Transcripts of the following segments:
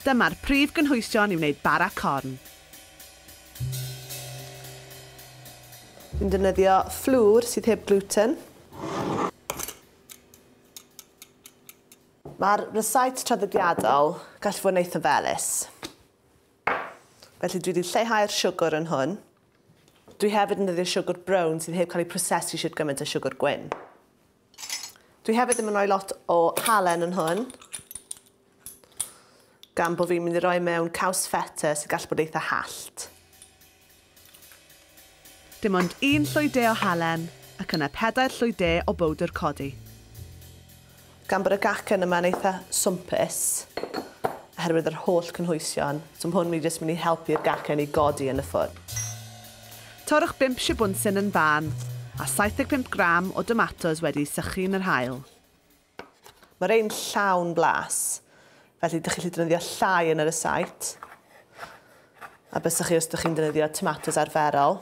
Dyma'r prif gynhwysion i wneud bara corn. Dwi'n defnyddio fflwr sydd heb gluten. Mae'r rysáit traddodiadol gallu fod yn eitha felys. Felly dwi wedi lleihau'r siwgr yn hwn. Dwi hefyd yn defnyddio siwgr brown sydd heb cael ei prosesu shwt gymaint â siwgr gwyn. Dwi hefyd ddim yn rhoi lot o halen yn hwn gan bod fi'n mynd i roi mewn caws feta sy'n gallu bod eitha hallt. Dim ond un llwy de o halen ac yna pedair llwy de o bowdr codi. Gan bod y gacen yma'n eitha swmpus oherwydd yr holl cynhwysion, so ma' hwn mynd i jyst mynd i helpu'r gacen i godi yn y ffwrn. Torrwch bump sibwnsyn yn fân, a 75 gram o domatos wedi'u sychu yn yr haul. Mae rhein llawn blas, felly dych chi'n gallu defnyddio llai yn yr ysait a bysach chi os ydych chi'n defnyddio tomatos arferol.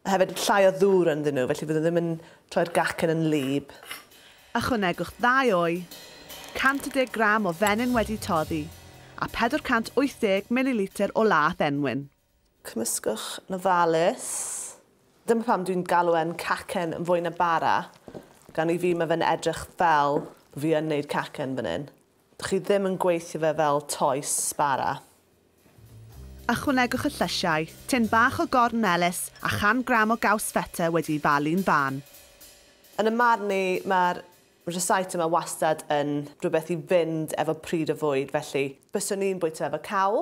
Mae hefyd llai o ddŵr ynddyn nhw, felly fyddwn ddim yn troi'r gacen yn wlyb. Ychwanegwch ddau o'i, 110 gram o fenyn wedi toddi, a 480 mililitr o laeth enwyn. Cymysgwch yn ofalus. Dyma pam dwi'n galw e'n cacen yn fwy na bara, gan i fi ma' fe'n edrych fel fi yn neud cacen fan hyn. Dych chi ddim yn gweithio fe fel toes bara. Ychwanegwch y llysiau, tin bach o gorn melys a chan gram o gaws feta wedi'i falu'n fân. Yn 'y marn i, ma'r Recitum a wastad yn rhywbeth i fynd efo pryd o fwyd, felly byswn i'n bwyta efo cawl,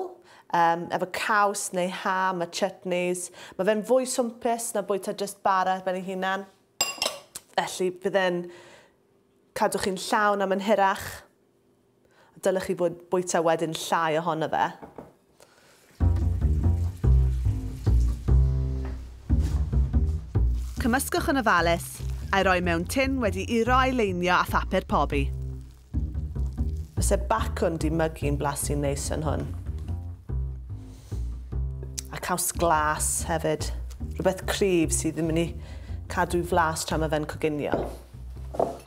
yym efo caws neu ham a chutneys. Mae fe'n fwy swmpus na bwyta jyst bara ar ben ei hunan, felly bydd e'n cadw chi'n llawn am yn hirach. Dylech chi fwyd, bwyta wedyn llai ohono fe. Cymysgwch yn ofalus, a'i roi mewn tin wedi i roi leinio â phapur pobi. Byse bacwn di mygu'n blasu'n neis yn hwn. A caws glas hefyd. Rhywbeth cryf sydd ddim yn ei cadw flas tra mae fe'n coginio.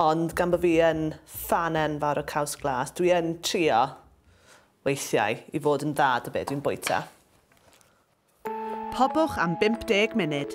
Ond gan bod fi yn Ffan enfawr o caws glas. Dwi yn trio weithiau i fod yn dda 'da be dwi'n bwyta. Pobwch am 50 munud.